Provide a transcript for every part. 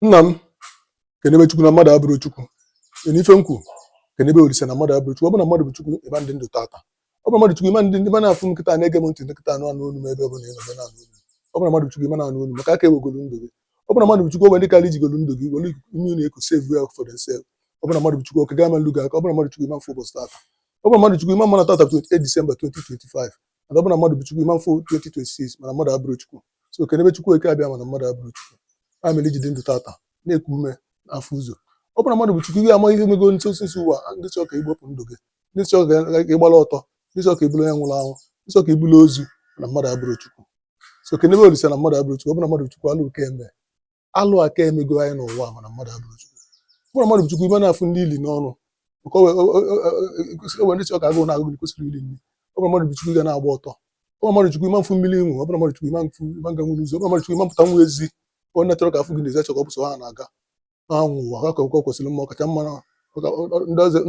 nna m kenebe chukwu na mmadụ abụrọ chukwu na ife m kwu kenebe olise na mmadụ abụrọ chukwu ọ bụ na mmadụ bụ chukwu ịma ndị ndụ tata ọ bụ mmadụ chukwu ịma ndị ndụ ma na-afụ m kịta na-ege m ntị kịta na-anụ olu m ebe ọ bụla ị nọ na-anụ olu ọ bụ na mmadụ chukwu ịma na-anụ olu maka aka ewegolu ndụ gị ọ bụ na mmadụ chukwu o nwe ndị karị jigolu ndụ gị were ime na eko save well for themselves ọ bụ na mmadụ chukwu oke gị ama nlu gị aka ọ bụ na mmadụ chukwu ịma mfụ ụbọchị tata ọ bụ na mmadụ chukwu ịma mma na tata 28 December 2025 mana ọ bụ na mmadụ bụ Chukwu ịma mfụ 2026 mana mmadụ abụrọ Chukwu so kenebe Chukwu oke abịama na mmadụ abụrọ Chukwu ya mere i ji dị ndụ tata na-eku ume na-afụ ụzọ ọ bụrụ na mmadụ bụ Chukwu ihe amaghị ihe mego nso osisi ụwa ndị chọọ ka igbupụ ndụ gị ndị chọọ ka ị gbara ọtọ ndị chọọ ka ị bụlụ onye nwụrụ anwụ ndị chọọ ka ị bụlụ ozu na mmadụ abụrọ Chukwu so kenebe Olisa na mmadụ abụrọ Chukwu ọ bụ na mmadụ Chukwu alụ aka eme alụ aka emego anyị n'ụwa mana mmadụ abụrọ chukwu ọ bụrụ mmadụ bụ chukwu ịma na-afụ nni ili n'ọnụ maka o nwe ndị chọ ka agụụ na-agụ gị kwesịrị ili nri ọ bụrụ mmadụ bụ chukwu ga na-agba ọtọ ọ bụrụ mmadụ chukwu ịma mfụ mmiri ịṅụ ọ bụrụ mmadụ chukwu ịma mfụ ịma nga nwere ụzọ ọ bụrụ mmadụ chukwu ịma mpụtanwu ezi onye na-achọrọ ka a fụ gị n'ezi achọ ka ọ bụ sọ ha na-aga ha nwe ụwa ha ka ọ kwesịrị mma ọkacha mma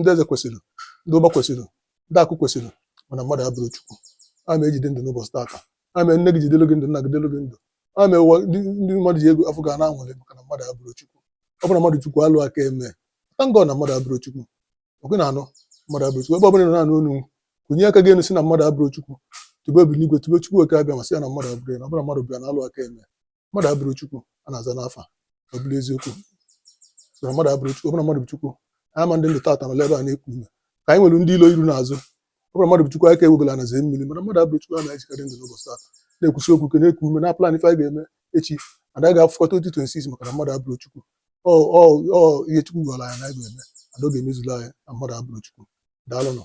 ndị eze kwesịrị ndị ụba kwesịrị ndị akụ kwesịrị mana mmadụ abụrọ chukwu ya me i ji dị ndụ n'ụbọchị taata ya me nne gị ji dịlị gị ndụ nna gị dịlị gị ndụ ọ mere ụwa ndị ndị mmadụ ji ego afụ gị na-aṅụlị maka na mmadụ abụrọ chukwu ọ bụrụ na mmadụ chukwu alụ aka eme thank God na mmadụ abụrọ chukwu ọ kwa ị na-anụ mmadụ abụrọ chukwu ebe ọ bụla ị nọ na-anụ onu kunie aka gị enu sị na mmadụ abụrọ chukwu tobe obi n'igwe tobe chukwu oke abịama sị ya na mmadụ abụrọ ya na ọ bụrụ na mmadụ bụ ya na alụ aka eme mmadụ abụrọ chukwu a na-aza n'afa ọ bụrụ eziokwu so na mmadụ abụrọ chukwu ọ bụrụ na mmadụ bụ chukwu ama ndị ndụ tata nọla ebe a na-eku ume ka anyị nwere ndị ilo iru na azụ ọ bụrụ mmadụ bụ Chukwu aka ewegolu ana zee mmiri mana mmadụ abụrọ Chukwu anyị ji ka dị ndụ n'ụbọchị taa na-ekwusi okwu ike na-eku ume na-plan ife anyị ga-eme echi and anyị ga-afụkọta 2026 maka na mmadụ abụrọ Chukwu ọ ọ ọ ihe Chukwu gwara anyị na anyị ga-eme and ọ ga-emezuru anyị na mmadụ abụrọ Chukwu daalụnụ